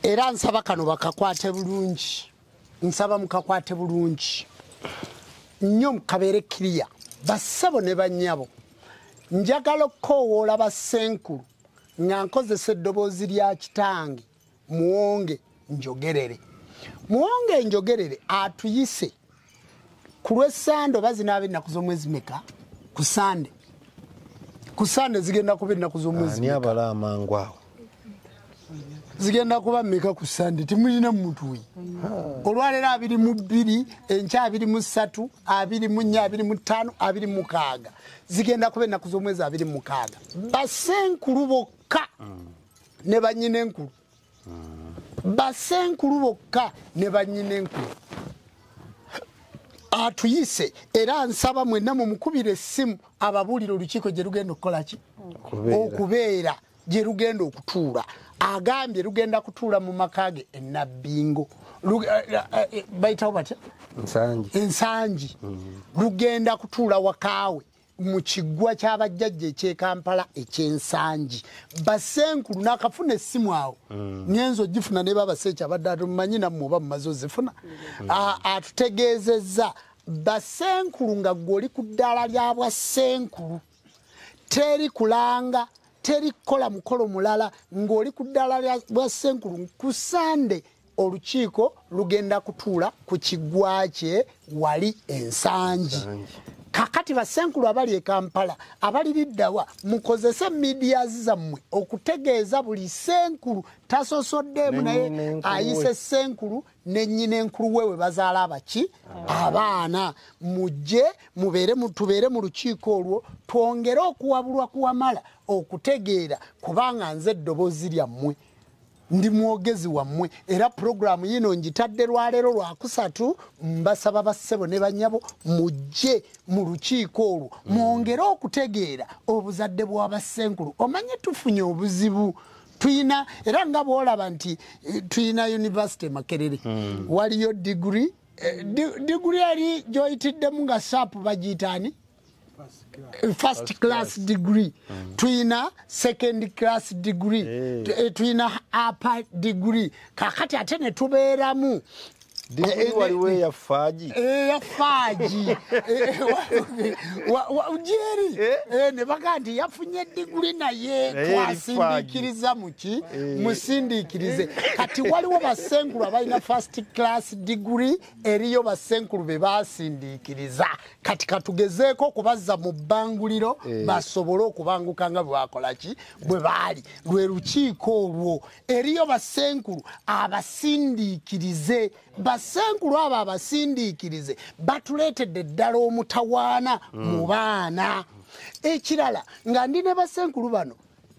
era nsaba kano bakakwate bulungi nsaba mukakwate bulungi nnyo mukabeere kiriya bassebo ne bannyabo njagala okukoowoola bassenkulu nga nkozesa eddoboozi lya kitange muwonge njogerere muwonge njogerere atuyise ah, ku lwessande oba zinaaba ennaku z'omwezi meka ku sande ku sande zigenda kuba ennaku z'omwezi ani abala amangu awo zigenda kuba meka ku sande timulina mutuyi olwaleero abiri mu bbiri enkya abiri mu ssatu abiri mu nnya abiri mu ttaano abiri mukaaga zigenda kuba ennaku z'omwezi abiri mukaaga basenkulu bokka ne banyina enkulu basenkulu bokka ne banyina enkulu atuyise era nsaba mwenna mumukubira essimu ababuulire olukiiko gye lugenda okukola ki okubeera gye lugenda okutuula agambye lugenda kutuula mu maka ge enabbingo eh, eh, eh, bayitawo batya ensangi mm. lugenda kutuula wakaawe mu kiggwa ky'abajjajja eky'e kampala eky'ensangi basenkulu nakafuna essimu awo mm. nyenza ogifuna ne babaseeki abadde atumanyi nammwe oba mumaze ozifuna mm. atutegeezezza basenkulu nga gwe oli ku ddaala lya bwa senkulu teri kulanga teri kukola mukolo mulala ng'oli ku ddaala lya bwa senkulu ku sande olukiiko lugenda kutuula ku kiggwa kye wali ensangi kakati basenkulu abali e kampala abali liddawa mukozese midias zammwe okutegeeza buli senkulu tasosoddeemu naye ayise senkulu nenyina enkulu wewe bazaala abaki abaana mujje mubeere tubeere mu lukiiko olwo twongere okuwabulwa kuwamala okutegeera kubanga nze eddobozi lyammwe ndi mwogezi wammwe era pulogulaamu yino ngitadde lwaleero lwakusatu mbasaba bassebo ne banyabo mujje mu lukiiko olwo mm. mwongere okutegeera obuzadde bwa bassenkulu omanye tufunye obuzibu tuyina era nga bwolaba nti eh, tuyina univesity makerere mm. waliyo diguri eh, diguri yali gyoyitiddemu nga saapu bagiyitaani first class degree mm. tuyina second class degree eh, tuyina upper degree kakati ate netubeeramu waliwo eyafaagi eyafaagi jeri nebaga nti yafunye diguli naye twasindiikiriza muki musindiikirize kati waliwo basengulu abalina first class diguli eriyo bassenkulu be baasindiikiriza kati katugezeeko okubazza mu bbanguliro eh. basobole okubanguka nga bwewakola ki bwe baali lwe lukiiko olwo eriyo bassenkulu abasindiikirize bassenkulu abo abasindiikirize batuleetedde ddala omutawaana hmm. mu baana ekirala nga ndi ne bassenkulu bano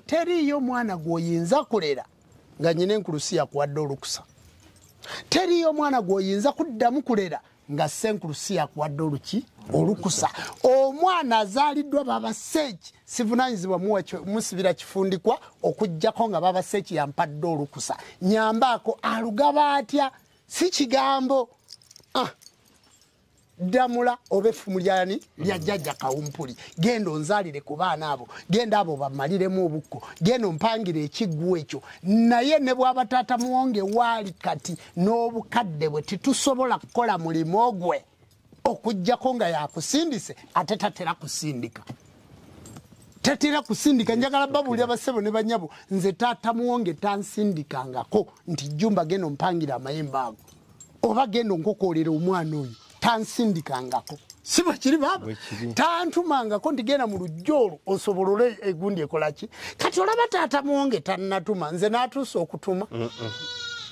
teriiyo mwana gw'oyinza kulera nga nyina enkulusi yakuwadde olukusa teriyo omwana gwoyinza kuddamu kulera nga senkulusi yakuwadde oluki olukusa omwana azaaliddwa baba seeki sivunanyizibwa musibira kifundikwa okugjako nga baba seeki yampadde olukusa nyambaako alugaba atya si kigambo ah. ddamula oba effumu lyani lya jjajja kawumpuli genda onzalire ku baana abo genda abo bamaliremu obukko genda ompangire ekiggwa ekyo naye ne bwaba taata muwonge waali kati n'obukadde bwe titusobola kukola mulimu gwe okujjako nga yakusindise ate tatera kusindika tatera kusindika njagala babuulira basebo ne banyabo nze taata muwonge tansindikangako nti jjumba genda ompangira amayembe ago oba genda onkokoolera omwana oyo tansindikangako si bwe kiri baaba tantumangako ndigenda mu lujja olwo osobolole egundi ekolaki kati olaba taata mwonge tannatuma nze n'atuusa okutuma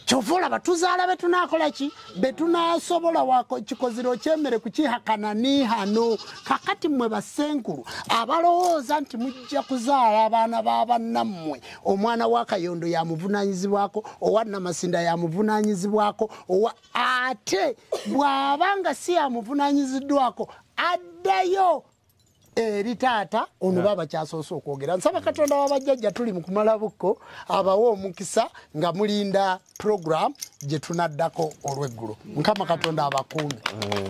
kyova olaba tuzaala be tunaakola ki be tunaasobola kikoziro kyemere kukihakana niihano kakati mmwe basenkulu abalowooza nti mujja kuzaala abaana ba bannammwe omwana wa kayondo yamuvunanyizibwako owa namasinda yamuvunanyizibwako owa ate bwaba nga si yamuvunanyiziddwako addayo eri taata ono ba bakyasoose okwogera nsaba katonda wabajjajja tuli mu kumala bukko abawe omukisa nga mulinda program gye tunaddako olweggulo mukama katonda abakuume mm.